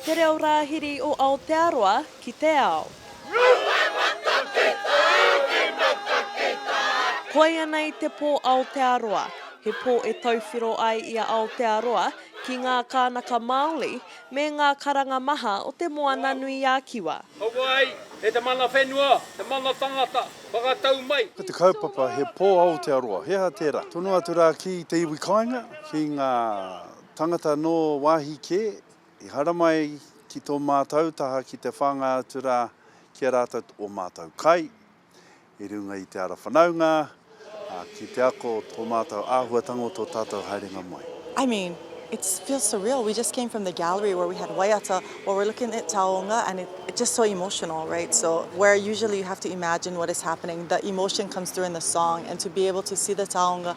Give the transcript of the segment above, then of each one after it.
Te Reo Rāhiri o Aotearoa ki te Ao. Koianei te pō Aotearoa, he pō e tauwhiro ai i a Aotearoa ki ngā kānaka Māori me ngā karanga maha o te Moana nui a Kiwa. Hoko ai e te mana whenua, te mana tangata, whakatau mai. Ko te kaupapa he pō Aotearoa, he aha tērā? Tonu atu rā ki te iwi kāinga, ki ngā. Tangata nō wāhi kē, i haramai ki tō mātau taha ki te whāngai atu rā ki a rātau ō mātau kai, i runga i te ara whanaunga, ā, ki te ako o tō mātau āhuatanga o tō tātau haerenga mai. I mean, it feels surreal, we just came from the gallery where we had waiata, while we're looking at taonga and it just so emotional, right, so where usually you have to imagine what is happening, the emotion comes through in the song and to be able to see the taonga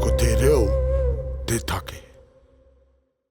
Ko te reo te take.